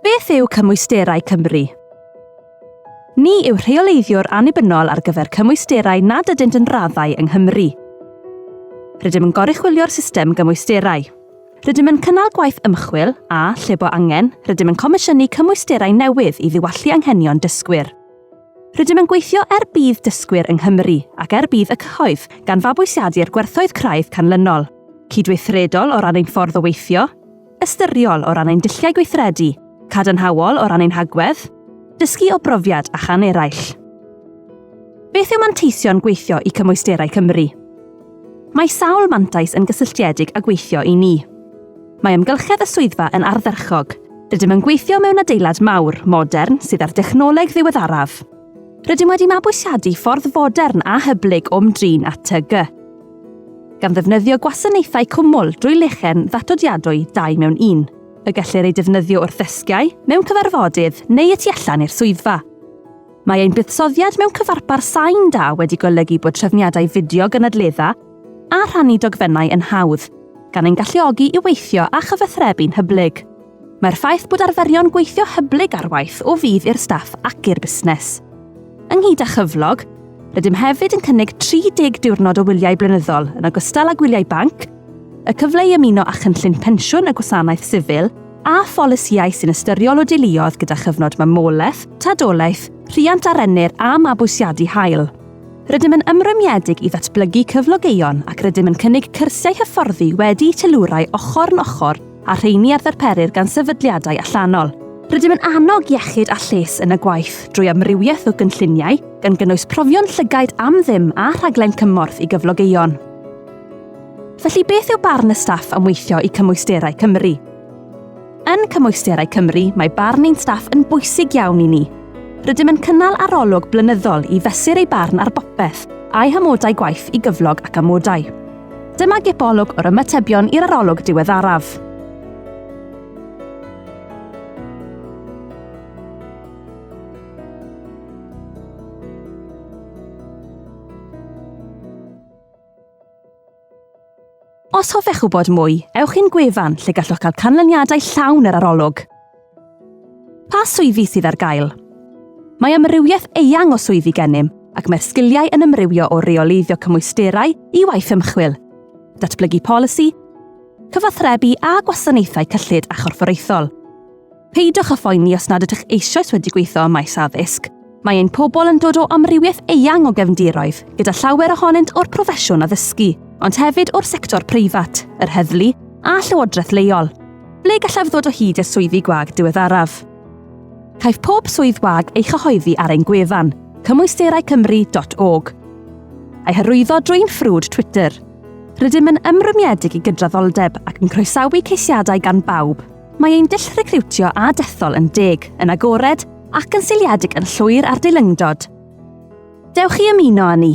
Beth yw Cymwysterau Cymru? Ni yw rheoleiddiwr annibynnol ar gyfer cymwysterau nad ydynt yn raddau yng Nghymru. Rydym yn goruchwylio'r system gymwysterau. Rydym yn cynnal gwaith ymchwil a, lle bo angen, rydym yn comisiynu cymwysterau newydd i ddiwallu anghenion dysgwyr. Rydym yn gweithio er budd dysgwyr yng Nghymru ac er budd y cyhoedd, gan fabwysiadu'r gwerthoedd craidd canlynol, cydweithredol o ran ein ffordd o weithio, ystyriol o ran ein dulliau gweithredu, cadarnhaol o ran ein hagwedd, dysgu o brofiad a chan eraill. Beth yw manteision gweithio i cymwysterau Cymru? Mae sawl mantais yn gysylltiedig â gweithio i ni. Mae amgylchedd y swyddfa yn ardderchog, Rydym yn gweithio mewn adeilad mawr, modern, sydd â'r dechnoleg ddiweddaraf. Rydym wedi mabwysiadu ffordd fodern a hyblyg o'm drin at TG. gan ddefnyddio gwasanaethau cwmwl drwy lechen ddatodiadwy dau mewn un, y gellir eu defnyddio wrth ddesgiau, mewn cyfarfodydd neu y tu allan i'r swyddfa. Mae ein buddsoddiad mewn cyfarpar sain da wedi golygu bod trefniadau fideo gynadledda a rhannu dogfennau yn hawdd, gan ein galluogi i weithio a chyfathrebu'n hyblyg. Mae'r ffaith bod arferion gweithio hyblyg ar waith o fudd i'r staff ac i'r busnes. Ynghyd â chyflog, rydym hefyd yn cynnig 30 diwrnod o wyliau blynyddol yn ogystal â gwyliau banc, y cyfle i ymuno â chynllun pensiwn y Gwasanaeth Sifil a pholisïau sy'n ystyriol o deuluoedd gyda chyfnod mamolaeth, tadolaeth, rhiant a rennir a mabwysiadu hael. Rydym yn ymrwymiedig i ddatblygu cyflogeion ac rydym yn cynnig cyrsiau hyfforddi wedi'u teilwrau ochr yn ochr a rheini a ddarperir gan sefydliadau allanol. Rydym yn annog iechyd a lles yn y gwaith drwy amrywiaeth o gynlluniau, gan gynnwys profion llygaid am ddim a rhaglen cymorth i gyflogeion. Felly beth yw barn y staff am weithio i Cymwysterau Cymru? Yn Cymwysterau Cymru, mae barn ein staff yn bwysig iawn i ni. Rydym yn cynnal arolwg blynyddol i fesur eu barn ar bopeth, a'u hamodau gwaith i gyflog ac amodau. Dyma gipolwg o'r ymatebion i'r arolwg diweddaraf. Os hoffech wybod mwy, ewch i'n gwefan lle gallwch gael canlyniadau llawn yr arolwg. Pa swyddi sydd ar gael? Mae amrywiaeth eang o swyddi gennym, ac mae'r sgiliau yn ymrywio o reoleiddio cymwysterau i waith ymchwil, datblygu polisi, cyfathrebu a gwasanaethau cyllid a chorfforaethol. Peidiwch â phoeni os nad ydych eisoes wedi gweithio ym maes addysg, Mae ein pobl yn dod o amrywiaeth eang o gefndiroedd, gyda llawer ohonynt o'r proffesiwn addysgu, ond hefyd o'r sector preifat, yr heddlu a llywodraeth leol. Ble gallaf ddod o hyd i'r swyddi gwag diweddaraf? Caiff pob swydd wag ei chyhoeddi ar ein gwefan, cymwysteraicymru.org, a'i hyrwyddo drwy'n ffrwd Twitter. Rydym yn ymrwymiedig i gydraddoldeb ac yn croesawu ceisiadau gan bawb. Mae ein dull recriwtio a dethol yn deg, yn agored ac yn seiliedig yn llwyr ar deilyngdod. Dewch i ymuno â ni!